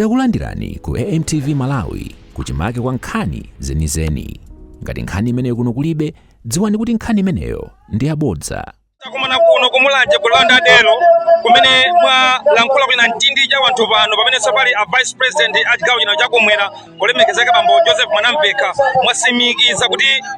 Takulandirani ku AMTV Malawi kuchimake kwa nkhani zenizeni. Ngati nkhani imeneyo kuno kulibe, dziwani kuti nkhani imeneyo ndi yabodza. takumana kuno kumulanje ku Landadelo kumene mwalankhula ku chinamtindi cha wanthu pano pamene sopano a vice president a chigawo chino chakumwera olemekezeka bambo joseph mwanamvekha mwatsimikiza kuti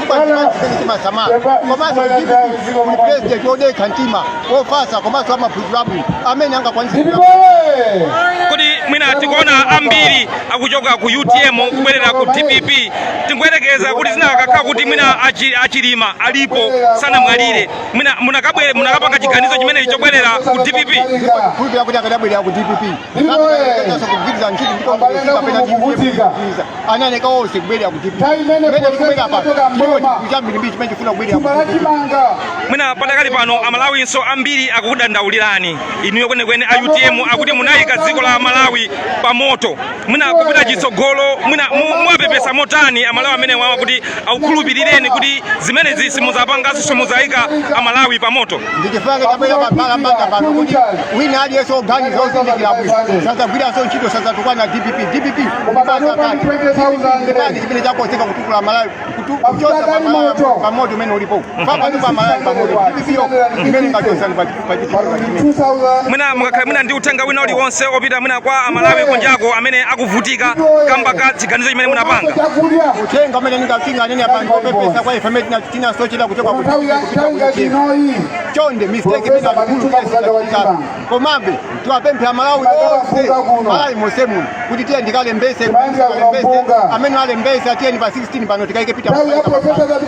chifukwa chimene chimasamala komanso dpp ndi president odekha mtima ofasa komanso amapulogiramu amene angakwanitse kodi mwina tikuona ambiri akuchoka ku utm kubwerera ku dpp tingoyerekeza kuti zinakakhala kuti mwina achilima alipo sanamwalire mwina munakapanga chiganizo chimenechi chobwerera ku dpp kuti akadabwerera ku dpp ananeka onse kubwerera kuti chambirimbiri chimene chifuna kubwerera mwina padakali pano amalawinso ambiri akukudandaulirani inuyo kwenekwene a utm akuti munayika dziko la malawi pa moto mwina kupita chitsogolo mwina muwapepesa motani amalawi amene wawa kuti akukhulupirireni kuti zimenezi simudzapanganso simudzayikanso amalawi pa moto ndi chifukwa tabwera pambalambanda pano kuti wina aliyense oganiza ozindikira bwino sadzagwiranso ntchito sadzatukwana dpp dpp ndi chipani chimene chakozeka kutukula malawi kuchotsa pa moto umene ulipo papatu pa malawi pa moto dpp yo imene ingatichotse pa mwina mukakhala mwina ndi uthenga wina uliwonse opita mwina kwa amalawi kunjako amene akuvutika kamba ka chiganizo chimene munapanga uthenga umene ndinganene apa ngopepesa kwa ife amene tinasochera kuchoka ku- kupita kuchini chonde mistake inali yaikulu komabe tiwapemphe amalawi onse malawi monse muno kuti tiyeni tikalembese alembese amene alembese atiyeni pa 16 pano tikaike pita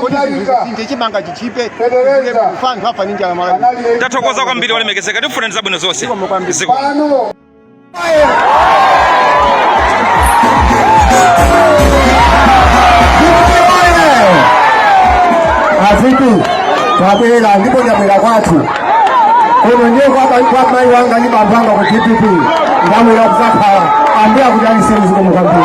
kuti zinthu zisinthe chimanga chi- chitchipe kufa anthu afa ndi njala malawi tathokoza kwambiri olemekezeka tikufunirani zabwino zonse Zikomo kwambiri. Ziko. Pano. A VP ndabwera ndipo ndabwera kwathu kuno ndiye kwamai wanga ndi bambo anga ku dpp ndabwera kuzakhala ambuya kuti aliseni zikomo kwambiri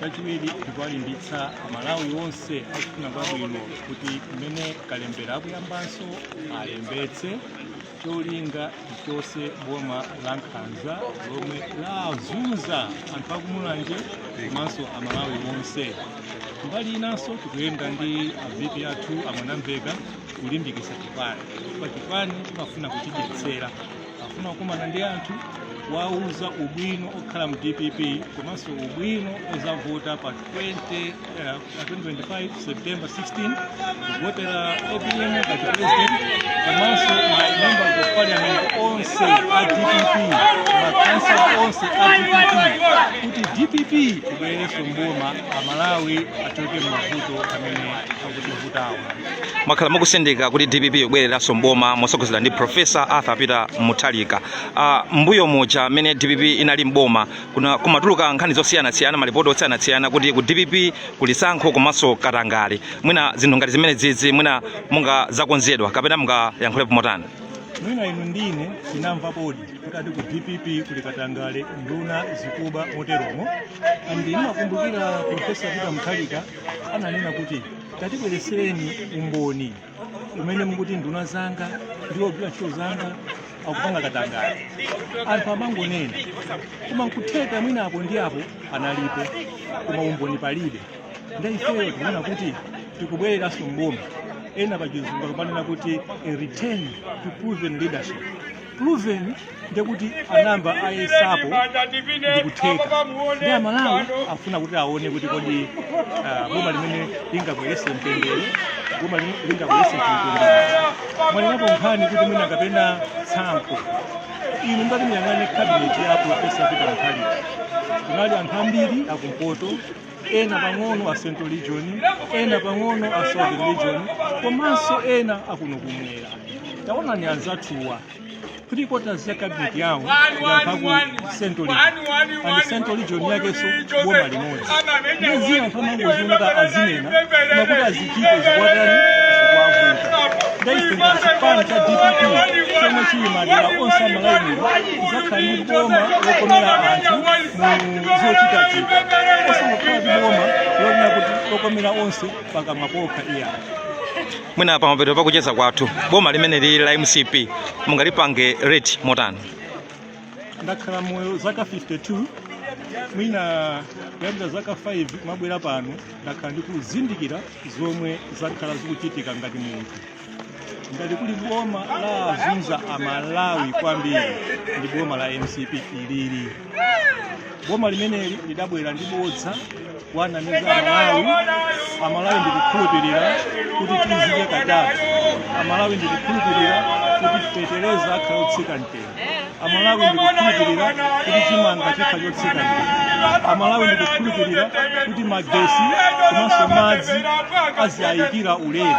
chachiwiri tikuwalimbitsa amalawi onse akufuna kwabwino kuti mmene kalembera akuyambanso alembetse cholinga tichotse boma la nkhanza lomwe lazunza anthu akumulanje komanso amalawi onse mbali inanso tikuyenda ndi avp athu a Mwanamvekha kulimbikitsa chipani paja chipani timafuna kuchidyetsera afuna kukumana ndi anthu kuwauza ubwino okhala mu dpp komanso ubwino ozavota pa 20, eh, pa 2025 september 16 kuvotera apm ngati president komanso ma members of parliament onse a dpp makansala onse a dpp kuti dpp ibwererenso mboma amalawi achoke m'mavuto amene akuti mwakhala mukusindika kuti dpp ikubwereranso mboma motsogozedwa ndi profesa arthur peter mutharika uh, mbuyo muja amene dpp inali mboma kuna- kumatuluka nkhani zosiyanasiyana malipoti osiyanasiyana kuti ku dpp kuli tsankho komanso katangale mwina zinthu ngati zimenezizi mwina mwina zakonzedwa kapena mungayankhulepo motani mwina inu ndine tinamvapodi kuti ati ku dpp kuli katangale nduna zikuba moteromo and ndimakumbukira profesa peter mutharika ananena kuti tatibweresereni umboni umene mukuti nduna zanga ndi ogwira ntchito zanga akupanga katangale anthu amangonena koma nkutheka mwina apo ndi apo analipo koma umboni palibe nde ifeyo tikuona kuti tikubwereranso mboma ena pachizungu akumanena kuti a return to proven leadership proven ndekuti anayamba ayesapo ndikutheka nde amalawi afuna kuti aone kuti kodi ah, boma limene lingabwerese mtendere boma limene lingabwerese mtendere mwanenapo nkhani kuti mwina kapena tsankho inu ngati muyang'ane kabineti ya profesa peter mutharika kunali anthu ambiri akumpoto ena pang'ono a central region ena pang'ono a southern region komanso ena akuno kumwera taonani anzathuwa three quarters ya cabinet yawo ya ku central region and central region yakenso boma limodzi ndiye anthu amangoziunika azinena nakuti azichite zikuwatani zikuwavuta nde ife ngati chipani cha dpp chomwe chili madera onse a malawi muno tizakhala ndi boma lokomera anthu zochitachita osangokhala ndi boma lonena kuti lokomera onse pakamwa pokha iyayi mwina pamapeto pakucheza kwathu boma limene lili la mcp mungalipange rate motani ndakhala moyo zaka 52 mwina kuyambira zaka 5 kumabwera pano ndakhala ndikuzindikira zomwe zakhala zikuchitika ngati munthu ngati kuli boma lawazunza amalawi kwambiri ndi boma la mcp ilili boma limeneli lidabwera ndi bodza kuwanamiza amalawi amalawi ndikukhulupirira kuti tizidya katatu amalawi ndikukhulupirira kuti fetereza akhala otsika mtengo amalawi ndikukhulupirira kuti chimanga chikhala chotsika mtengo amalawi ndikukhulupirira kuti magesi komanso madzi azilumikizidwa ulere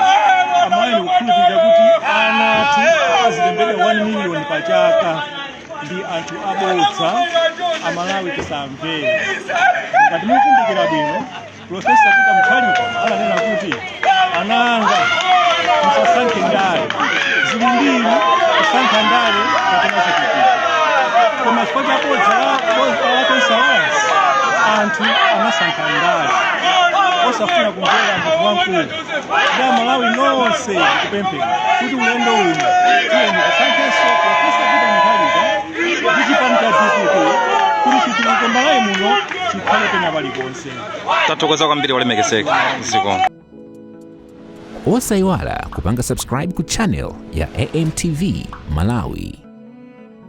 amalawi ndikukhulupirira kuti ana athu azilembedwa 1 miliyoni pa chaka ndi anthu abodza amalawi tisamvere ngati mukumbukira bwino Profesa Peter Mutharika ananena kuti ana anga musasankhe ndale zili ziwiri kusankha ndale kapena chitukuko koma chifukwa cha bodza la bodza la Tonse Alliance anthu anasankha ndale osafuna kumvera munthu wamkulu nde amalawi nonse ndikupempheni kuti ulendo uno tiyeni tisankhenso Profesa Peter Mutharika ndi chipani cha dpp kuti chitukuko m'Malawi muno chikhale pena paliponse tathokoza kwambiri olemekezeka zikomo osayiwala kupanga subscribe ku channel ya amtv malawi